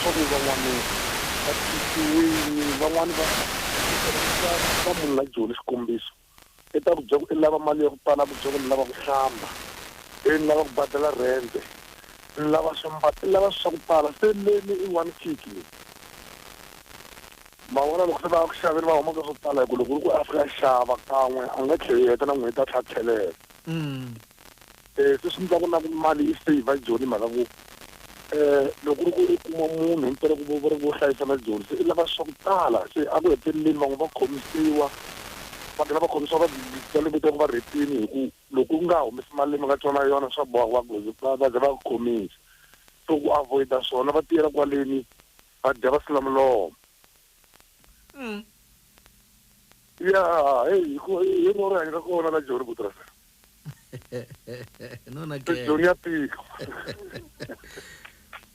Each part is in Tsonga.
swa ku van'wanuna va tikisiwini van'wana va eka ka munhu la joni xikombiso i ta ku bya ku i lava mali ya ku tala ku bya ku ni lava ku hlamba e ni lava ku badela rent ni lava swimbalo i lava swa ku tala se leni i one kick leyi ma vona loko se va ya ku xaveni va humaka swo tala hi ku loko u ri ku a fika a xava kan'we a nga tlheli heta na n'hweti a tlhela a tlhelela Eh sweswi ni twa ku na ku mali yi saver Joni hi mhaka ku eh loko ku ri ku i kuma munhu hi mpela ku va ri vo hlayisa na Joni se i lava swa ku tala se a ku heteleleni van'we va khomisiwa va tlhela va khomisiwa va va levetiwa ku va rhepini hi ku loko u nga humesi mali leyi mi nga twana yona swa boha va ku va va ze va ku khomisa so ku avoid-a swona va tiyela kwaleni va dya va sula milomo Mm. ya heyi hi ko- hi ro rihanyo ra kona la joni butrasa nuna ke joni ya tiko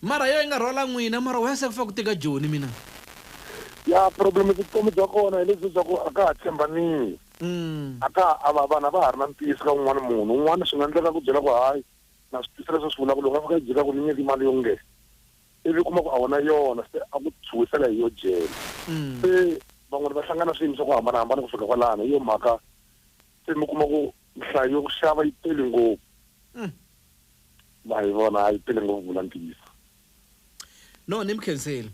mara yo yi nga rhwala n'wina mara why se ku fa ku tika joni mina ya problem vutomi bya kona hi lebyi bya ku a ka ha tshembaniwi Mm. a ka a va vanhu a va ha ri na ntiyiso ka un'wana munhu un'wana swi nga endleka ku byela ku hayi na swi tisa leswi swi vulaka loko a fika jika ku ni nyiki mali yo nge ivi kuma ku a wu na yona se a ku chuhisela hi yo jele mm. se van'wana va hlangana swiyimo swa ku hambanahambana ku fika kwalano hi yo mhaka se mi kuma ku nhlayo yo ku xava yi tele ngopfu mm. va yi vona a yi tele ngopfu vula ntiyiso no ni mi khenseli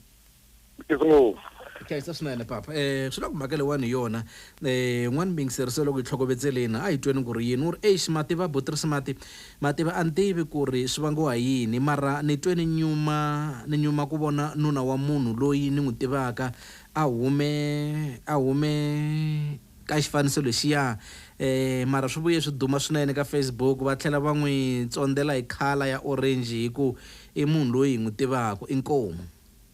khensa ngopfu khensa swinene papa um swi na ku mhaka leyiwani hi yona um n'wana mbingiseriso loko yi tlhokovetseleni a hi tweni ku ri yini u ri eish mativa a butirisi mati mativa a ni tivi ku ri swi vangiwa hi yini mara ni twe ni nyuma ni nyuma ku vona nuna wa munhu loyi ni n'wi tivaka a hume a hume ka xifaniso lexiya um mara swi vuye swi duma swinene ka facebook va tlhela va n'wi tsondzela hi khala ya orange hi ku i munhu loyi hi n'wi tivaka inkomu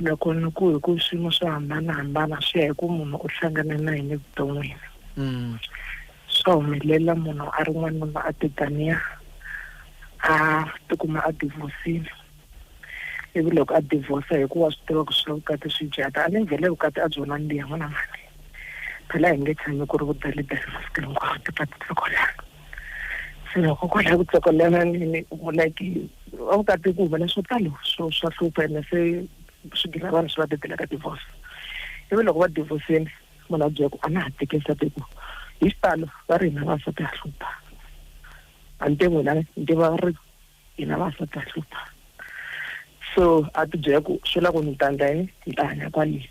Loko ni ku hi ku swiyimo swo hambanahambana swi ya hi ku munhu u hlangane na yini evuton'wini. Swa humelela munhu a ri n'wanuna a tetaniya a tikuma a divorce-ini ivi loko a divorce hi ku wa swi tiva ku swa vukati swi dya ta a ni vhele vukati a byo nandziha n'wana mhani phela hi nge tshami ku ri vudalidali masiku hinkwawo tiphati ta kona. se loko ku lava ku tsokolana ni vulaki a wu kati ku humelela swo talo swo swa hlupha ene se swi gila vanhu swi va dedela ka divorce ivi loko va divosini munhu a byela ku a na ha teki nsati ku hi xitalo va ri hina vavasati ha hlupha a ni te n'wina ni tiva ri hina vavasati ha hlupha so a ti byela ku swi la ku ni ta ndla yini ni ta hanya kwale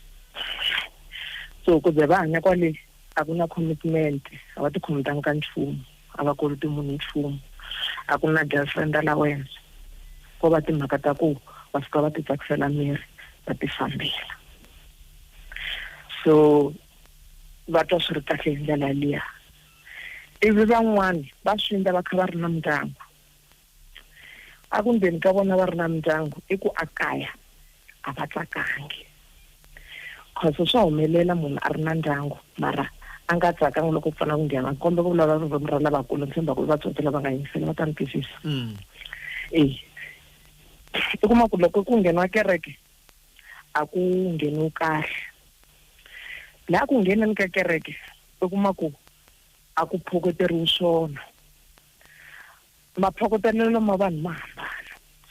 so ku ze va hanya kwale a ku na commitment a va tikhomitanga ka nchumu a va koloti munhu nchumu a ku na girlfriend la wena ko va timhaka ta ku va suka va titsakisela miri va tifambela so va twa swi ri kahle hi ndlela liya ivi van'wana va swi ndla va kha va ri na mindyangu A ku ndzeni ka vona va ri na mindyangu i ku a kaya a va tsakangi cause swa humelela munhu a ri na ndyangu mara a nga tsakanga loko ku pfuna ku nghena kombe ku vulavula ririmi ra lavakulu ni tshemba ku ri vatswatsi lava nga yingisela va ta ni twisisa mm. e i kuma ku loko ku ngheniwa kereke a ku ngheniwi kahle laha ku ngheneni ka kereke i kuma ku a ku phokoteriwi swona Maphokotelelo ma vanhu ma hambana.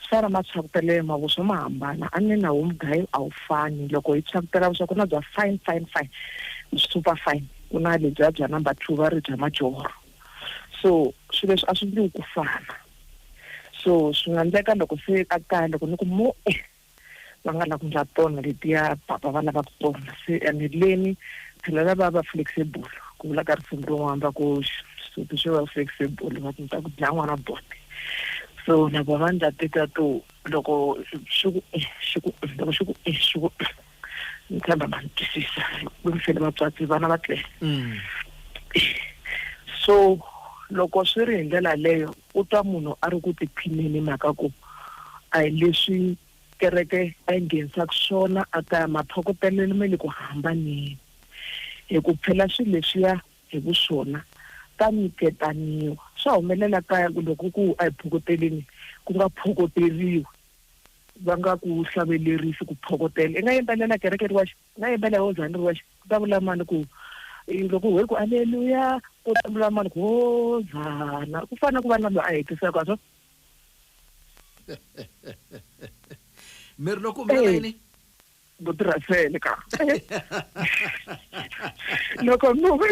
Xana matshwakutelelo ma vuswa ma hambana? A ni na wu mugayo a wu fani. Loko hi tshwakutela vuswa ku na bya fine, fine, fine, super fine, ku na lebyiya bya number two va ri bya majorho. So swi leswi a swi ndliwi ku fana. So swi nga ndleka loko se a kaya loko ni ku mo e! va nga la ku ndla tona letiya papa va lavaku tona se and leni phela la va va flexible ku vula ka risimu rin'wana va ku swisuti swi va flexible va ku ni ta ku dlaya n'wana bote so na vona va ndla teta to loko swi ku eh, swi ku eh, loko swi ku eh, swi ku eh. ni tshemba ma ni twisisa ku fele vatswatsi vana va tlele mm. so loko swi ri hi ndlela leyo U twa munhu a ri ku tiphineni hi mhaka ku a hi leswi kereke a yi nghenisaka swona ekaya. Maphokothelelo ma le ku hambaneni. Hi ku phela swilo leswiya hi vuswona ka nyiketaniwa. Swa humelela kaya ku loko ku a hi phokoteleni ku nga phokoteriwi, va nga ku hlavelerisi ku phokotela. I nga yimbelela kereke yi ri wexe. Na yena phela wo za a ni ri wexe, ku ta vula mani ku, loko ho ku aleluya, ku ta vula mani ku, hozana? Ku fanele ku va na loyi a hetisaka, a swi vona? Mi ri, Loko ku humelela yini? Buti Rhasele ka. Loko mi,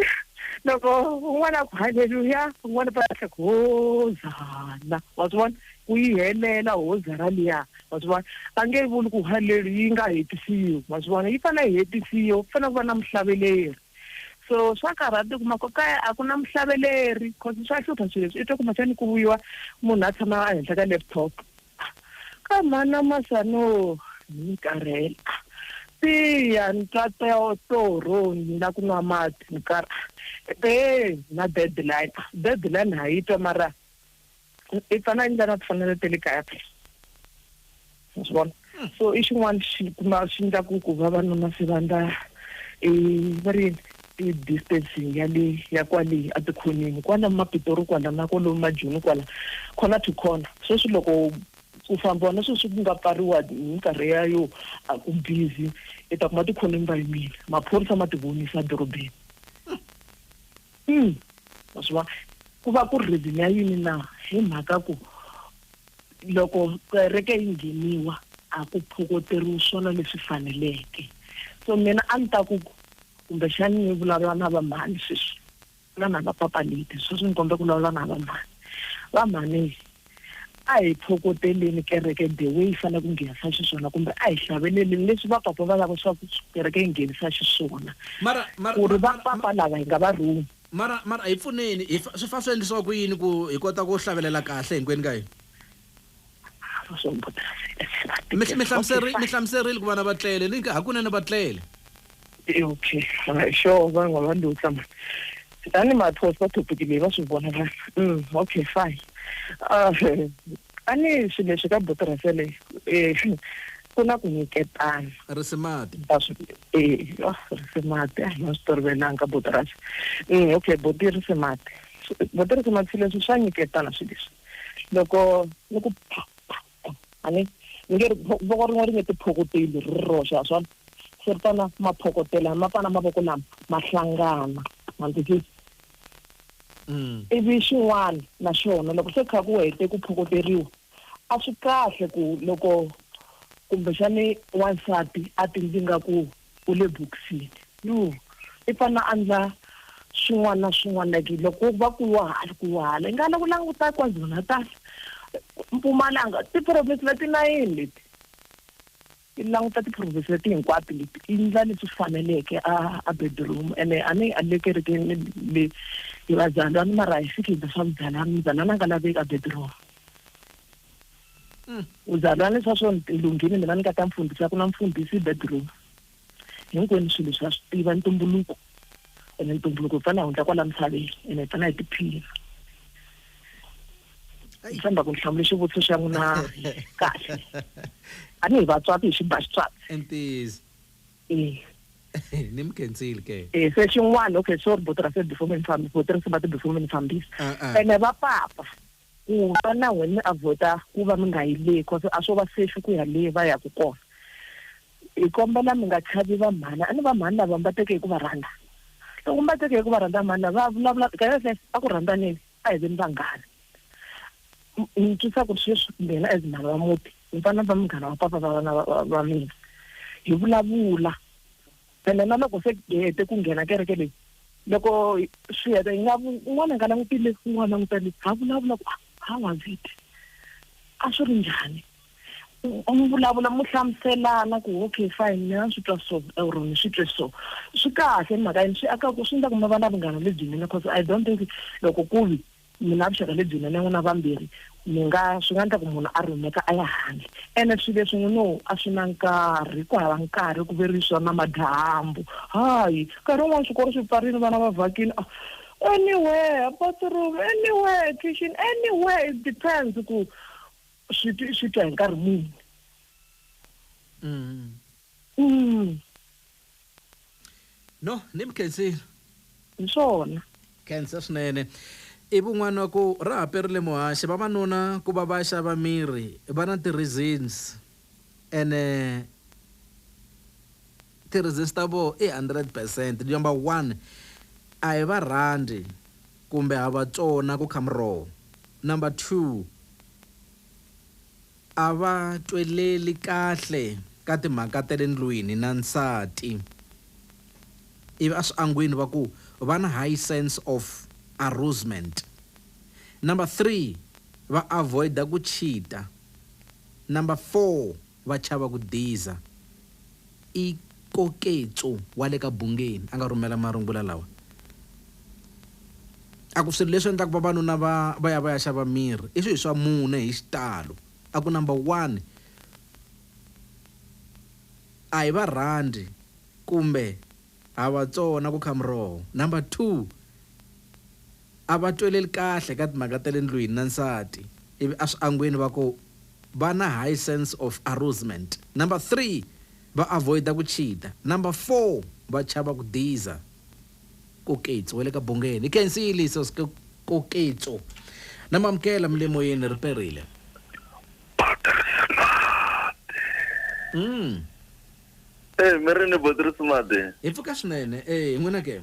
loko un'wana a ku haleluya, un'wana phela a tlhela a ku, hozana? Wa swi vona? Ku yi helela hozana liya. ma swi vona va nge vuli ku hallelu yi nga hetisiwi ma swi vona yi fanele yi hetisiwa ku fanele ku va na muhlaveleri so swa karhata ku mako kaya a ku na muhlaveleri cause swa hlupha swilo leswi i twa kumbexani ku vuyiwa munhu a tshama ehenhla ka laptop ka mhana masano ni karhele a tiya ni twa toro ni la ku nwa mati ni karhi e na deadline deadline ha yi twa mara I fane a endla na timfanelo ta le kaya phela mi swi vona hmm. so i xin'wana xi kuma xi endlaku ku vavanuna se va nga um va ri yini i distancing ya le ya kwale a tikhoneni kwala mapitori kwala na kwalomu majoni kwala khona to khona sweswi loko ku famba wona sweswi ku nga pfariwa hi minkarhi ya yo a ku busy i ta kuma tikhoneni va yimile maphorisa ma ti vonisa edorobeni Ii, ma swi vona, ku va ku ri rhythm ya yini na? Hi mhaka ku loko kereke yi ngheniwa a ku phokoteriwi swona leswi faneleke. So mina a ni ta ku kumbexani ni vulavula na va mhani sweswi na na va papa lady sweswi ni kombe ku vulavula na va mhani. Va mhani a hi phokoteleni kereke the way yi fanele ku nghenisa xiswona kumbe a hi hlaveleleni leswi va papa va lava swa ku kereke yi nghenisa xiswona mara mara ku ri va papa lava hi nga va rhumi mara mara hi pfuneni hi fa swi fa swi endlisiwa ku yini ku hi kota ku hlavelela kahle hinkwenu ka hina mi mi hlamuserile mi hlamuserile ku vana va tlele ni hakunene va tlele E okay hi sure va nga va lutla ma tani maphorisa va topic leyi va swi vona va mm okay fine ah a ni swi leswi ka botirase leyi eh ku na ku nyiketana risimati va swi eh ah, risimati a hi nga swi tolovelanga ka botirase mm okay boti risimati boti risimati swi leswi swa nyiketana swi leswi loko ni ku pha pha a ni ni nge ri voko rin'we ri nge tiphokoteli ri ri roxe a swona se ri fana ma phokotelana ma fana mavoko lama ma hlangana ma ndzi twisisa Mm. ivi xin'wana na xona loko se kha ku hete ku phokoteriwa a swi kahle ku loko kumbexani wansati a tindzinga ku u le bokisini. No. I fanele a endla swin'wana na swin'wana like loko ku va ku yiwa hala ku yiwa hala. Hi nga lava ku languta KwaZulu-Natal, Mpumalanga, ti-province leti nayini leti. I languta ti-province leti hinkwato leti, i endla leswi faneleke a a bedroom ene a ni a ni le kerekeni le hi vazalwana mara a hi fiki hi endla swa vuzalwana, muzalwana a nga laveki a bedroom. Uzalwane swa swo ntilunghini mina ni nga ta mfundhisa ku na mfundhisi bedroom hinkwenu swilo swa swi tiva ntumbuluko ene ntumbuluko hi fana hundla kwala misaveni ene hi fana hi tiphina hi famba ku ni hlamule xivutiso xa n'wina kahle a ni hi vatswati hi xiba xitswati ntiyiso e ni mi khensile ke e se xin'wana okay sorry botirase before mi ni fambisa botirase bati before mi ni fambisa ene va papa ku twa na when mi avota ku va mi nga yi le cause a swo va safe ku ya le va yaku kona hi kombela mi nga chavi va mhani a ni va mhani lava mi va teke hi ku va rhandza loko mi va teke hi ku va rhandza mhani lava va vulavula kahle a ku rhandzaneni a hi veni vanghana ni twisa ku ri sweswi mina as mhani wa muti ni fane ni va munghana wa papa va vana va mina hi vulavula Ene na loko se hi hete ku nghena kereke leyi, loko swi heta hi nga vu, un'wana a nga languti le, un'wana a languta le, ha vulavula ku, how was it? A swi ri njhani? Mi vulavula mi hlamuselana ku, okay fine, mina ni swi twa so or ni swi twe so. Swi kahle hi mhaka yini, swi aka ku, swi endla ku mi va na vunghana lebyinene coz I don't think loko ku ri mi na vuxaka lebyinene n'wina vambirhi, mi nga swi nga endla ku munhu a rhumeka a ya handle. Ene swilo leswi n'wi no a swi na nkarhi, ku hava nkarhi ku ve ri swa namadyambu. Hayi, nkarhi wun'wana swikolo swi pfarile, vana va vhakile, a anywhere, a bathroom, anywhere, a kitchen, anywhere, it depends ku swi swi ta hi nkarhi muni. Umm. No, ni mi khensile. Hi swona. Khensa swinene. I vun'wana ku ra ha perile muhaxi, vavanuna ku va va xava mirhi va na ti-reasons ene ti-reasons ta vona i hundred percent. Number one, a hi va rhandzi kumbe ha va tsona ku kha miroho. Number two. A va tweleli kahle ka timhaka ta le ndlwini na nsati. Ivi a swi angwini va ku va na high sense of arusement. Number three, va avoid-a ku cheat-a. Number four, va chava ku diza. I Koketso wa le ka Bungeni a nga rhumela marungula lawa a ku, Swilo leswi endlaka vavanuna va va ya va ya xava mirhi i swilo swa mune hi xitalo. A ku, Number one, a hi va rhandzi kumbe. Hava tsona ku kha muroho. Number two, a va tweleli kahle ka timhaka ta le ndlwini na nsati ivi a swi angwini va ku va na high sense of arousement. Number three, va avoid-a ku cheat-a. Number four, va chava ku diza. Koketsu wa le ka bungeni, hi khensile sos ke Koketsu. Na mi amukela mi le moyeni, riperile. Patrice Mahati. Umm. Hey, mi ri ni botiri smart-i? Hi pfuka swinene, eh, n'wina ke?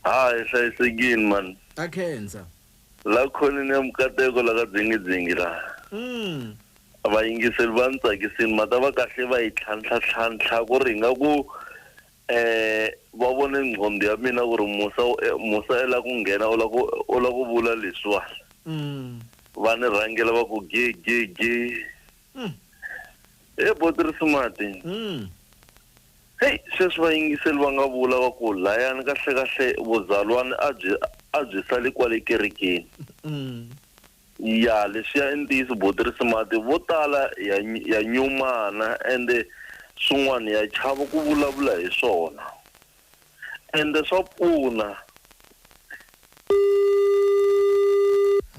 Ha, hi hlayisekini mani. Ta khensa. La khoneni ya mukateko la ka Dzingi-Dzingi la. Mm. Vayingiseli va ni tsakisini, mhata va kahle va yi tlhantlha-tlhantlha ku ri ingaku eh, va vone nqhondo ya mina ku ri Musa u, eh, Musa i la ku nghena u la ku, u la ku vula leswiwani. Mm. Va ni rhangela va ku, Gee, gee, gee. He boti ri smart. Hey sweswi vayingiseli va nga vula va ku layani kahlekahle vuzalwani a byi a byi sali kwale kerekeni. Ya leswiya i ntiyiso boti ri smart vo tala ya ya nyumana ende swin'wana ya chava ku vulavula hi swona. ende swa pfuna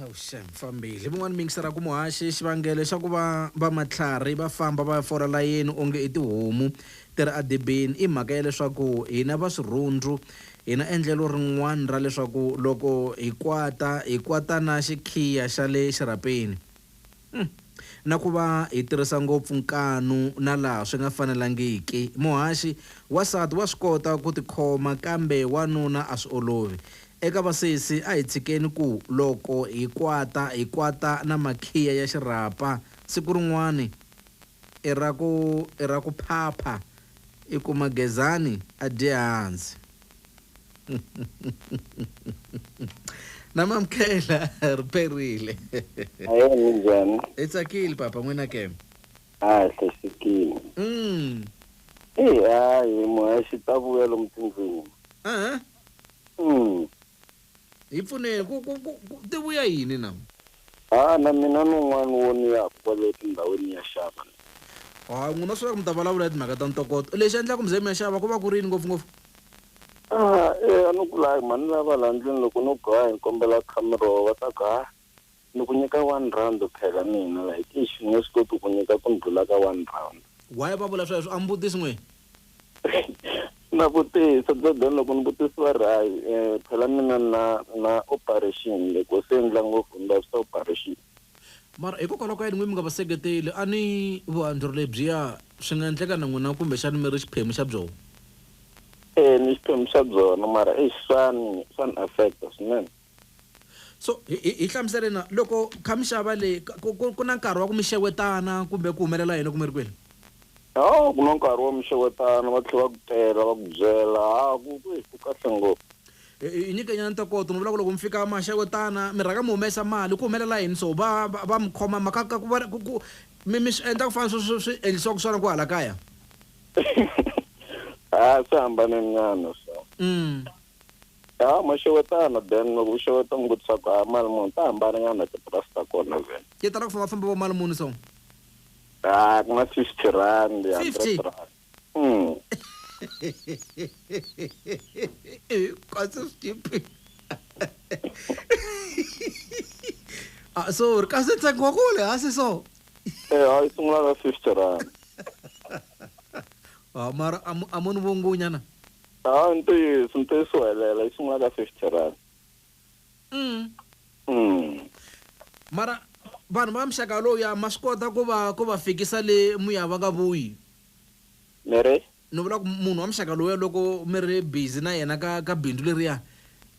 avuxem fambile van'wani mingisera ku muhaxi xivangelo xa ku va va matlhari va famba va ya fola layeni onge i tihomu ti ri edibini i mhaka ya leswaku hina va swirhundzu hina endlelo rin'wani ra leswaku loko hi kwata hi kwata na xikhiya xa le xirhapeni na ku va hi tirhisa ngopfu nkanu na laha swi nga fanelangiki. Muhaxi, Wasati wa swi kota ku tikhoma kambe wanuna a swi olovi. Eka vasesi, a hi tshikeni ku loko hi kwata hi kwata na makhiya ya xirhapa. Siku rin'wana i ra ku i ra ku phapha i kuma Gezani a dye hansi. na mamkhela ri perile Aye ninjani? hi tsakile papa n'wina ke Ah, hlayisekile. mm. Eh, hayi muhaxi ta vuya lomu tindlwini. aha Mm. Hi pfuneni, ku, ku, ku, ku tivuya yini na? Ha, na mina ni un'wana wo ni ya kwale tindhawini ya xava. Ha, n'wina swi la ku mi ta vulavula hi timhaka ta ntokoto. Lexi endlaka mi ze mi ya xava ku va ku ri yini ngopfu-ngopfu? Ha, e, a ni ku like, ma ni lava laha ndlwini, loko no ku, Hi, ni kombela khamero, va ta ku, Ha, Ni ku nyika one rand phela mina like eish ni nge swi koti ku nyika ku ndlula ka one rand. Why va vula sweswo? A mi vutisi n'we? Na vutisa but then loko ni vutisi va ri hayi phela mina ni na ni na operation le ku se ndla ngopfu ni vavisa operation. Mara hikokwalaho ka yini n'wini mi nga va seketeli? A ni vuhandzuri lebyiya swi nga endleka na n'wina kumbexana mi ri xiphemu xa byoho. Eya ni xiphemu xa byona mara eish swa ni swa ni affect swinene. So, hi, hi, hi hlamuseleni na, loko kha mi xava leyi, ku, ku, ku na nkarhi wa ku mi xewetana kumbe ku humelela yini loko mi ri kwini? Ha, ku na nkarhi wa mi xewetana, va tlhela va ku tela, va ku byela, ha, ku, ku, ku kahle ngopfu. Hi, hi nyikenyana ntokoto, ni vula ku loko mi fika ma xewetana, mi rhanga mi humesa mali, ku humelela yini so? Va, va, va mi khoma ma ka, ka ku vona, ku, ku, mi, mi swi endla ku fana swi, swi, swi endlisiwaka swona ku hala kaya? Ha, swi hambananyana swo. Mm. Haa ma xewetana Ben loko u xeweta n'wi vutisa ku haa mali muni ta hambana nyana na tipurasi ta kona Ben. Ti tala ku famba famba vo mali muni so. Haa ku na fifty rand, hundred rand umm. Hinkwaswo swi chipile haa so ri kasi ntsengo wa koho le hansi so. Eya haa yi sungula ka fifty rand. Haa mara a mo ni vongo nyana. Ha, i ntiyiso, ntiyiso wo helela, yi sungula ka fifty rand. Mm. Mara vanhu va muxaka lowuya ma swi kota ku va ku va fikisa le muya va nga vuyi? Ni ri? Ni vula ku munhu wa muxaka lowuya loko mi ri busy na yena ka ka bindzu leriya,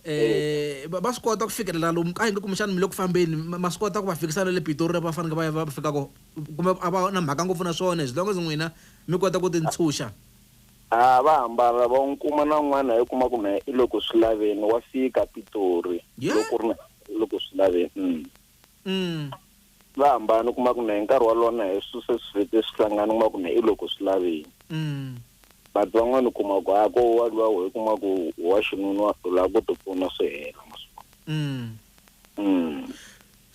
eh, va va swi kota ku fikelela lomu a hi nge kumbexana mi le ku fambeni, ma ma swi kota ku va fikisa na le Pitori la va faneke va ya va fika koho? Kumbe a va na mhaka ngopfu na swona as long as n'wina mi kota ku ti ntshunxa? A va hambana va n'wi kuma na n'wana hi kuma ku me i le ku swi laveni wa fika Pitori Yeah. loko ri i le ku swi laveni mm. Mm. va hambana u kuma ku me hi nkarhi walowo na hi swi se swi vete swi hlangana u kuma ku me i le ku swi laveni Mm. but van'wana u kuma ku ha ko wa lwa u kuma ku wa xinuna u lava ku tipfuna swi hela masiku Mm. mm.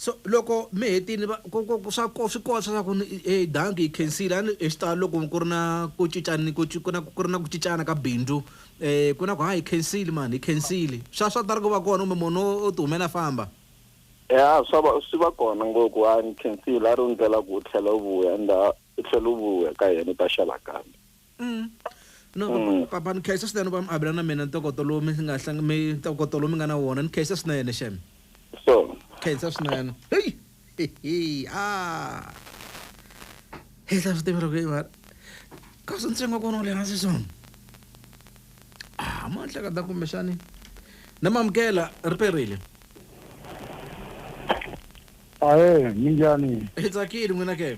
So loko mi hetini va ku ku ku swa ko swi kotsa swa ku ni e e danki yi khensile a ni hi xitalo loko ku ri na ku cincana ni ku ci ku na ku ri na ku cincana ka bindzu ku na ku ha hi khensile mani hi khensile swa swa tala ku va kona kumbe munhu o ti humela a famba. Ya swa va swi va kona ngo ku a ni khensile a ri u ndlela ku u tlhela u vuya ende a u tlhela u vuya ka hina u ta xava kambe Mm. No, mm. papa ni khayisa swinene va mi avela na mina ntokoto lowu mi nga hlangi mi ntokoto lowu mi nga na wona ni khayisa swinene xem so khayisa swinene heyi heyi a ah. hehla swi tivela ku yi va kasi ntsengo wa kona wu le hansi swona a ah, ma hleketa kumbexani ni mamukela ri perile ae minjani hi tsakile n'wina ke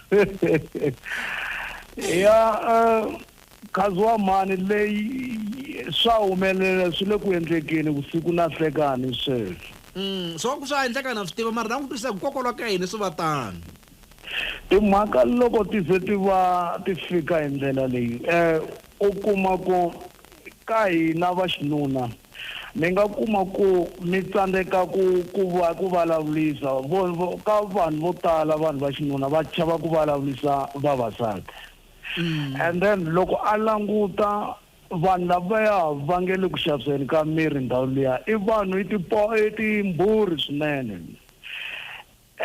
ya uh, kazi wa mhani leyi swa humelela swi le ku endlekeni vusiku na hlekani sweswi mm, swa ku swa endleka na swi tiva mara na ku twisisa hikokwalaho ka yini swi va tano timhaka loko ti ze ti va ti fika hi ndlela leyi um u kuma ku Ka hina vaxinuna, mi nga kuma ku mi tsandzeka ku ku va ku valavulisa vo vo ka vanhu vo tala vanhu va xinuna va chava ku valavulisa vavasati and then loko a languta vanhu lavaya va nge le ku xaviseni ka miri ndhawu liya i vanhu i ti po i timbhuri swinene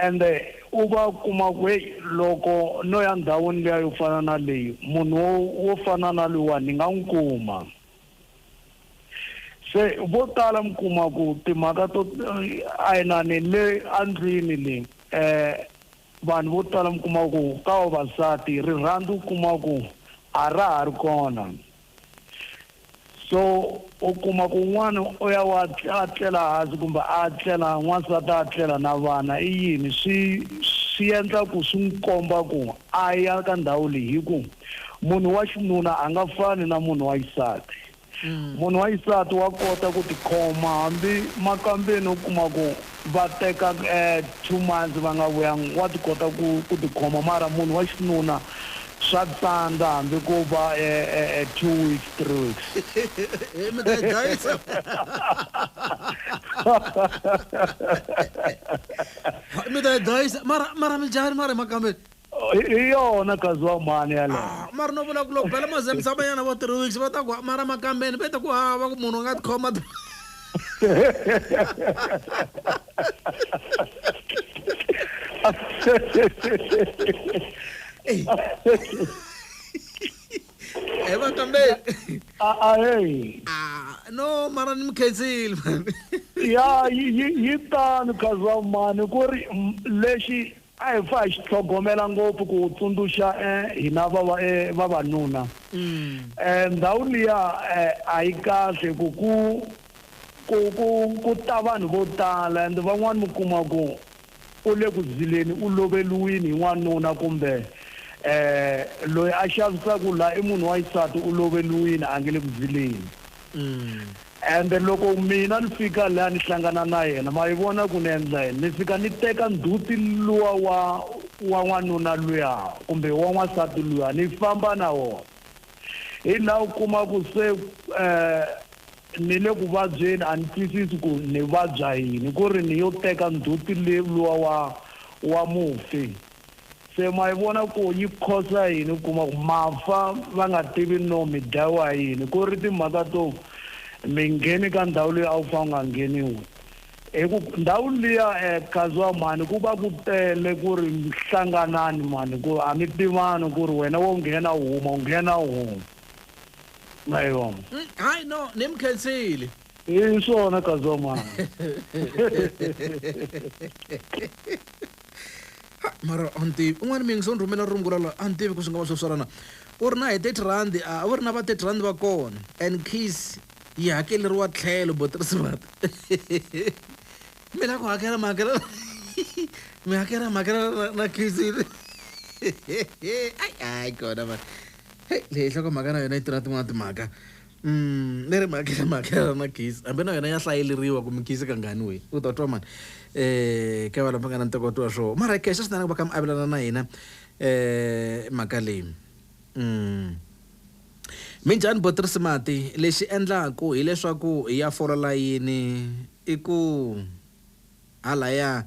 Ende u va kuma ku, Heyi, loko no ya ndhawini liya yo fana na leyi, munhu wo, wo fana na luwa ni nga n'wi kuma. Se vo tala mi kuma ku timhaka to, a hi na ni le endlwini le, vanhu vo tala mi kuma ku ka vavasati rirhandzu u kuma ku a ra ha ri kona. So u kuma ku un'wana u ya wa a tlela hansi kumbe a tlela n'wansati a tlela na vana i yini swi swi endla ku swi n'wi komba ku a ya ka ndhawu leyi hi ku munhu wa xinuna a nga fani na munhu wa xisati munhu wa xisati wa kota ku tikhoma hambi makambeni u kuma ku va teka two months va nga vuyanga wa ti kota ku ku ti khoma mara munhu wa xinuna swa tsandza hambi ko va two weeks three weeks He mi ta yi dlayisa. Mi ta yi dlayisa mara mara mi njhani mara makambeni. hi yona kazi wa mhani yaleyo Ah, mara no vula ku loko bela mazembisama yana vo three weeks va ta ku mara makambeni va ta ku hava ku munhu u nga tikhoma ti- Ei. Eh, makambeni a a heyi Ah, no mara ni mi khensile man ya yi yi yi tano kazi wa mhani ku ri mm, lexi A hi fa hi xi tlhogomela ngopfu ku tsundzuxa hina vavanuna. Ndhawu liya a yi kahle hi ku ku ta vanhu vo tala ende van'wana mi kuma ku u le ku zileni, u loveriwile hi n'wanuna kumbe loyi a xavisaka laha i munhu wa xisati u loveriwile a nge le ku zileni. Ende loko mina ni fika laya ni hlangana na yena, ma yi vona ku ni endla yini? Ni fika ni teka nduti luwa wa, wa n'wanuna luya, kumbe wa n'wansati luya, ni famba na wona. Hi laha u kuma ku se, eh, ni le ku vabyeni, a ni twisisi ku ni vabya yini, ku ri ni yo teka nduti luwa wa, wa mufi. Se ma yi vona ku yi khosa yini u kuma ku ma fa va nga tivi no mi dlayiwa hi yini ku ri timhaka to mi ngheni ka ndhawu leyi a wu fane u nga ngheniwi hi ku ndhawu liya khaziwa mhani ku va ku tele ku ri hlanganani mhani ku a mi tivani ku ri wena wo nghena u huma u nghena u huma ma yi vona. Hayi no ni mi khensile. Hi swona khaziwa mhani. mara a ni tivi un'wana mingi so ni rhumela rungula la a ni tivi ku swi nga va swo swalana u ri na hi thirty rhandi a u ri na va thirty rhandi va kona and kiss yi hakeleriwa tlhelo bo tirisivata mi lava ku hakela mi hakela mi hakela mi hakela na kiss ai ai kona va leyi nhloko mhaka na yona yi tirha tin'wana timhaka Umm niri mhaka mhaka ya na gezi hambi na yona ya hlayeleriwa ku migezi ka ngani we u ta twa mani eh ka valava nga na ntokoto wa swona mara khesha swinene ku va ka mi avelana na hina eh mhaka leyi mm minjhani botrisi mati lexi endlaku hileswaku ya folola yini i ku halaya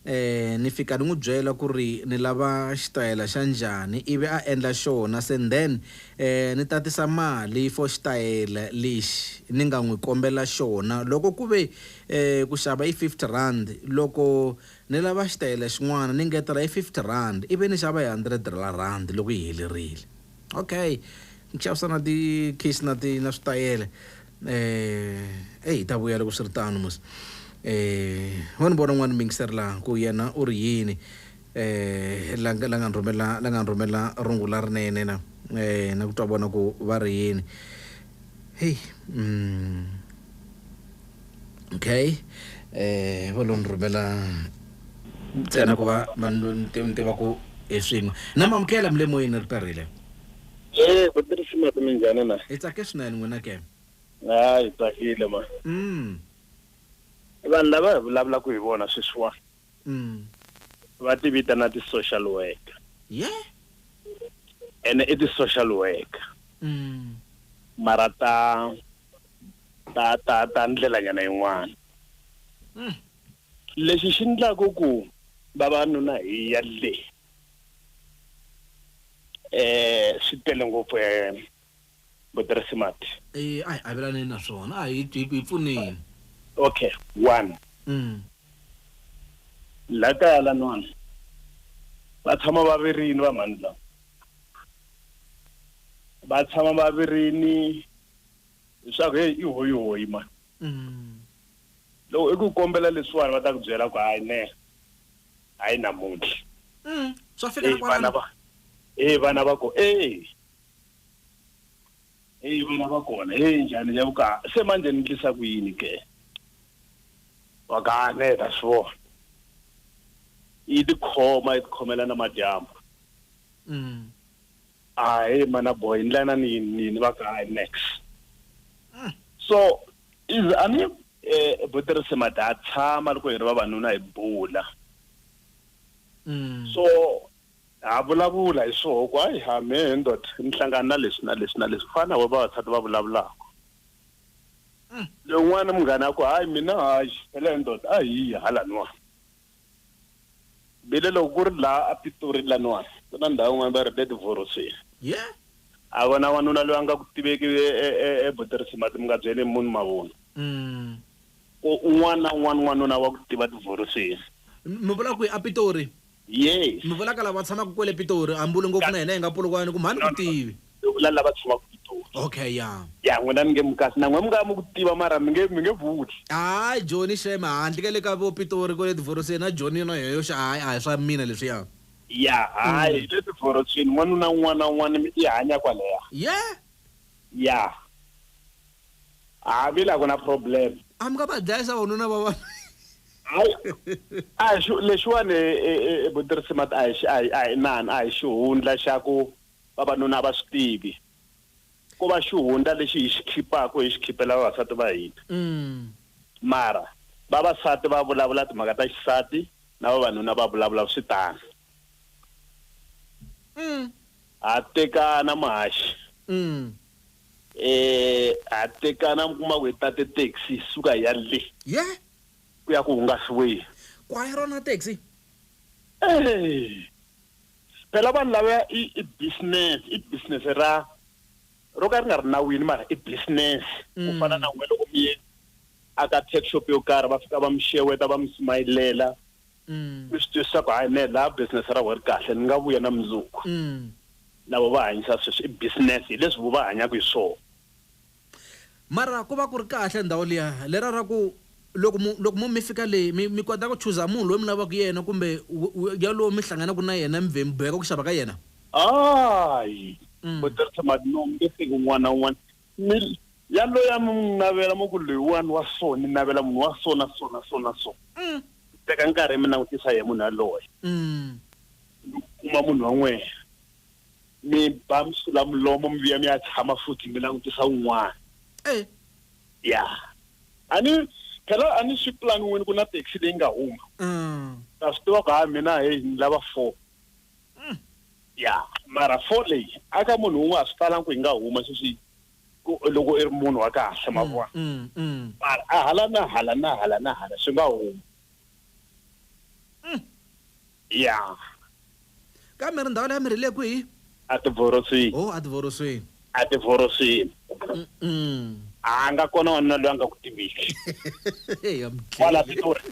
eeh ni fika ni n'wi byela ku ri ni lava xitayela xa njhani ivi a endla xona se then eeh ni tatisa mali for xitayela lexi ni nga n'wi kombela xona loko ku ve eeh ku xava hi fifty rand loko ni lava xitayela xin'wana ni ngetela hi fifty rand ivi ni xava hi hundred rand loko yi helerile okay ni xavisa na ti case na ti na switayela. eh eyi ta vuya loko swi ri tano mos eh wa ni vona n'wana mingiseri laha ku yena u ri yini eh la nga la nga ni rhumela la nga ni rhumela rungula rinene na eh na ku twa vona ku va ri yini heyi mm, okay eh va lo ni rhumela ntsena ku va va ni ni tiva ku hi swin'we na mamukela mi le moyeni ri tarhile Eeh ku tirhisi mati minjhani na. Hi tsake swinene n'wina ke? Haa hi tsakile ma. Umm. Vanhu lava hi vulavulaka hi vona sweswiwa Umm. va ti vitana ti social worker. Yeah. Ene i ti social worker. Umm. Mara ta ta ta ta ndlela nyana yin'wana. Umm. Lexi xi ndlaku ku vavanuna hi ya le. eh swi tele ngopfu eh mutirhisi mati eh a hi avelaneni na swona a hi hi hi pfuneni okay one mm la kaya la nwana va tshama va virini va mhani lawa va tshama va virini leswaku heyi i hoyi hoyi ma mm loko i ku kombela leswiwani va ta ku byela ku hayi ne hayi namuntlha mm, swa fika na kwalano e vana va ko e e vana va kona e njhani ya vuka se manje ni ndlisa ku yini ke wa ka aneta swona yi tikhoma yi tikhomela na madyambu mm. a he mana boy ndlana ni yini ni va ka next mm. so is a ni E buti ri sima da tshama loko hi ri vavanuna hi bula so ha vulavula hi swoho ku hayi ha mehe hi ndoda ni hlangana na leswi na leswi na leswi ku fana na vo vavasati va vulavulaka lowun'wana munghana a ku hayi mina hayi phela hi ndoda a hi yi halaniwani Bile loko ku ri laha a Pitori laniwani ku na ndhawu yin'wana va ri le Tivorosini. Yeah. A ku na wanuna loyi a nga ku tiveki e, e, e, eBoteresimati mi nga byeli munhu mavunwa. Mm. Ku un'wana na un'wana n'wanuna wa ku tiva Tivorosini. M- Mi vula kwihi? A Pitori? Yes. Mi vula ka lava tshamaka kwele Pitori? A Mbulungofu na hina hi nga Polokwane ku mhani ku tivi. loko la lava tshumaku titoti okay ya ya n'wina mi nge mi kasi na n'we mi nga mi ku tiva mara mi nge mi nge vuli hayi joni shema handle ka le ka vo pitori ko le tivhoroseni na joni yona heyo xa hayi a hi swa mina leswiya ya hayi mm. le tivhoroseni n'wanuna un'wana na un'wana mi i hanya kwaleya ye ya havi la ku na problem a mi nga va dlayisa vanuna va va hayi a hi lexiwani e, e, e, e butirisimat a hi a hi nani a hi xihundla xa ku Vavanuna a va swi tivi. Ko va xihundla lexi hi xi khipaka hi xi khipela vavasati va hina. Mara, vavasati va vulavula timhaka ta xisati na vavanuna va vulavula swi tano. Ha tekana Muhaxi. E, ha tekana mi kuma ku hi tate taxi hi suka hi ya le. Ku ya ku hungasiweni. Ku haya rona taxi. E, Phela vanhu lava i i business i business ra ro ka ri nga ri nawini mara i business ku mm. fana na n'we loko mi ye aka tax shop yo karhi va fika va mi xeweta va mi smayilela mm. mi swi twisisa ku hayi mehe laha business ra wena kahle ni nga vuya na mundzuku mm. na vo va hanyisa sweswi i business hi leswi vo va hanyaka hi swona Mara ku va ku ri kahle ndhawu liya lera ra ku loko mu loko mu mi fika le mi mi kota ku chuza munhu loyi mi lavaku yena kumbe yalowo mi hlanganaku na yena mi vhe mi boheka ku xava ka yena. Hayi ku tirhisa mali no mi nge teki un'wana na un'wana mi yaloye a mi n'wi navela mi ku loyiwani wa so ni navela munhu wa so na so na so na so mi teka nkarhi mi langutisa yehe munhu yaloye mi kuma munhu wa n'wehe. mi ba misulamulomo mi vuya mi ya tshama futhi mi langutisa un'wana e ya a ni phela a ni swi pulaniwini ku na taxi leyi nga huma mm. ta swi tiva ku ha mina heyi ni lava four mm. ya mara four leyi aka munhu un'we a swi talangi ku yi nga huma sweswi loko i ri munhu wa kahle mavona mm, mara a hala na hala na hala na hala swi nga huma Mm. ya Ka mi ri ndhawu leyi a mi ri le kwihi? a ti voroswini Oh, a divorosweni. a ti voroswini Mm. a nga kona wanuna loyi a nga ku tiviki Hey, I'm kwala kidding. pitori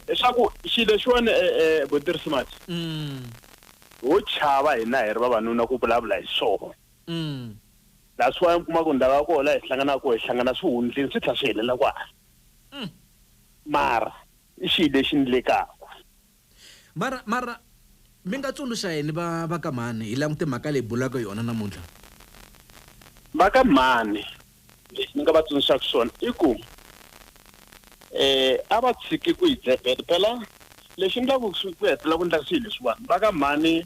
leswaku xilo lexiwani um botirisi mati Mm. ho chava hina hi ri vavanuna ku vulavula hi swona Mm. that's why mi kuma ku ndhawu ya kona laha hi hlanganaka kona hi hlangana swi hundlini swi tlha swi helela kwala mara i xilo lexi ndlekaku mara mara mi nga tsundzuxa yini va va ka mhani hi langute mhaka leyi bulaka yona namuntlha va ka mhani lexi ni nga va tsundzuxaka xona i ku eh a va tshiki ku yi dzebela phela lexi ndlaku ku hetelela ku ndlaka swilo leswiwani va ka mhani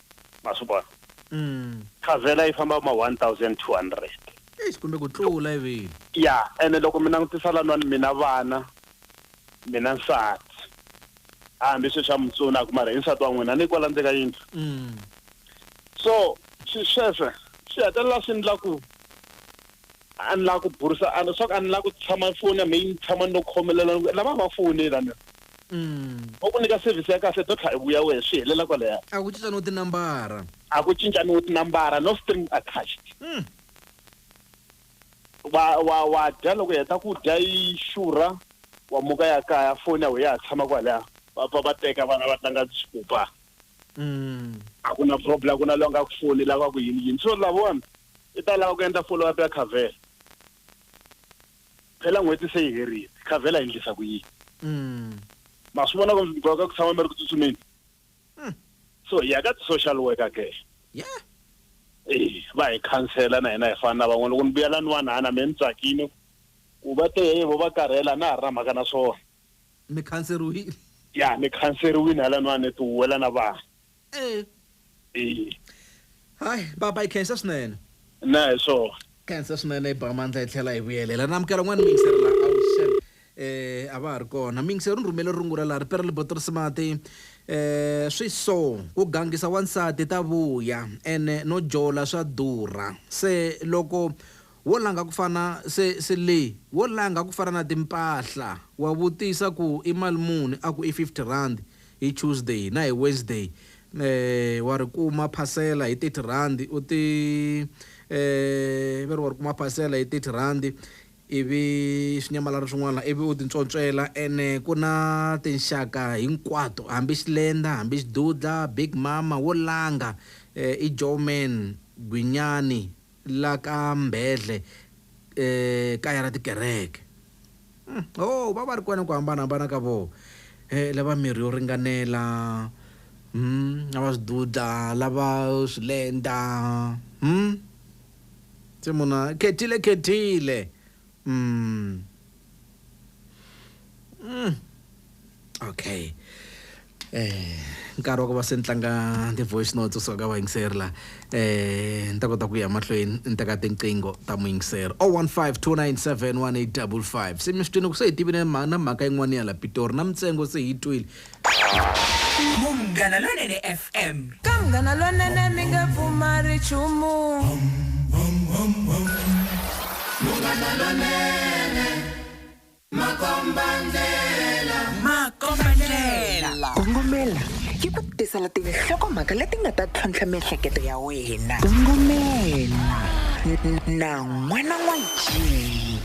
ma swi vona mm. thazela yi famba ma 1200 eish kumbe ku tlula ivini ya ene loko mi langutisa lanwani mina vana mina nsati hambi swi swa mutsuna ku mara hi nsati wa n'wina ni kwala ndzeka yindlu mm. so swi sweswe swi hetelela swi ndla ku a ni lava ku burisa swa ku a ni lava ku tshama foni ya me yi ni tshama ni lo khomelela lava va foni lani va ku nyika service ya kahle to tlha i vuya wehe swi helela kwalaya a ku cincaniwo tinambara a ku cincaniwo tinambara no string attached wa wa wa dya loko heta ku dya yi xurha wa muka ya kaya foni ya we ya ha tshama kwalaya va pfa va teka vana va tlanga swikupa a ku na problem ku na loyi a nga ku foni lava ku yini yini so lavona i ta lava ku endla follow up ya khavela Phela n'hweti se yi herile, khavhela yi ndlisa ku yini? Ma swi vona ku mi boheka ku tshama mi ri ku tsutsumeni? So hi ya ka ti-social worker ke. Eya, va hi khansela na hina hi fana na van'wana. Loko ni vuyela ni va na na mehe ni tsakile ku va te heyi vo va karhele, a na ha ri na mhaka na swona. Mi khanseriwile? Ya, ni khanseriwile hala ni va ni ti huwela na vana. Eh. Eh. hayi papa yi khensa swinene na hi swona khensa swinene yi ba mandla yi tlhela hi vuyelela na amukela n'wana mingiseri la a wu xel eh a va ha ri kona mingiseri ni rhumele rungula laha ri pere liboto ri simati eh swi so ku gangisa wansati ta vuya ene no jola swa durha se loko wo langa ku fana se se le wo langa ku fana na timpahla wa vutisa ku i mali muni a ku i fifty rand Hi Tuesday na hi Wednesday wa ri kuma phasela hi thirty rhandi u ti va ri wa ri kuma phasela hi thirty rhandi ivi swinyamalala swin'wana ivi u tintswontswela ene ku na tinxaka hinkwato hambi xilenda hambi xidudla big mama wo langa i joe man gwinyani la ka Mbhedle e kaya ra tikereke. Hoo, va va ri kona ku hambana-hambana ka vona, he, lava miri yo ringanela, um, lava swidudla, lava swilenda, um, se munhu a khethile-khethile, um. mm. okay eh nkarhi wa ku va se ni tlanga ti-voice notes u suka ka vayingiseri la eh ni ta kota ku ya mahlweni ni teka tinqingho ta muyingiseri o oh one five two nine seven one eight double five se mi swi twini ku se hi tivile na mhaka yin'wana ya la pitori na mintsengo se hi twile munghana lonene fm ka munghana lonene mi nga pfumari nchumu munghana lonene makomba ndlela makomba ndlela kongomela yi ku tisela tinhlokomhaka leti nga ta tlhontlha miehleketo ya wena kongomela na n'wana n'wa jini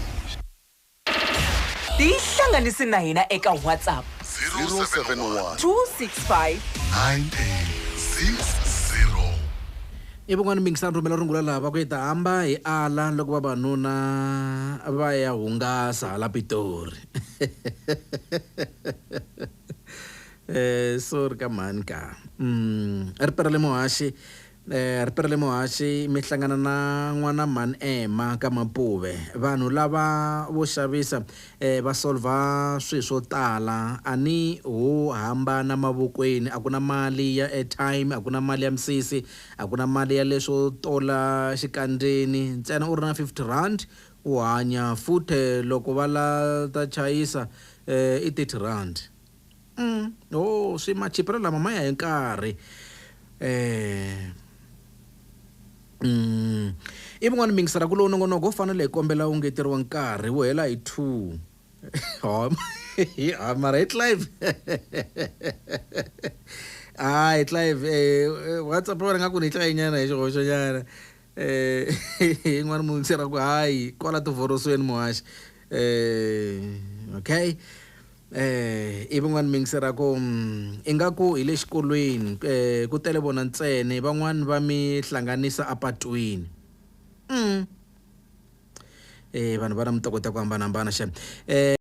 Tihlanganisi na hina eka WhatsApp. 071 265 9860. evan'wani mingisani rhumela rungula lava ku yi ta hamba hi ala loko vavanuna va ya hungasa hala pitori um sorry ka mhani ka um ri pera le muhaxi Ripirele Mohaxi mi hlangana na n'wana mhani Emma ka Mapuve. Vanhu lava vo xavisa va solver swi swo tala a ni ho hambana mavokweni a ku na mali ya airtime a ku na mali ya misisi a ku na mali ya leswo tola xikandzeni ntsena u ri na 50 rand u hanya futhe loko va la ta chayisa i 30 rand. Mm. Oh, swi machipelo lama ma ya hi nkarhi. Eh. Mm. I van'wana mingisela ku lowu nongonoko u fanele hi kombela u ngeteriwa nkarhi wo hela hi 2. Hayi hayi mara hi Clive. Hayi Clive eh WhatsApp wena nga ku ni hlayi nyana hi xihoxo nyana. Eh yin'wana mungisela ku hayi kwala tivorosweni muhaxi. um okay um ivi n'wana mingisi ra ku mm, ingaku hi le xikolweni um ku tele vona ntsene van'wani va mi hlanganisa apatwini mm. e vanhu va na mitokoto ya ku hambanahambana xe um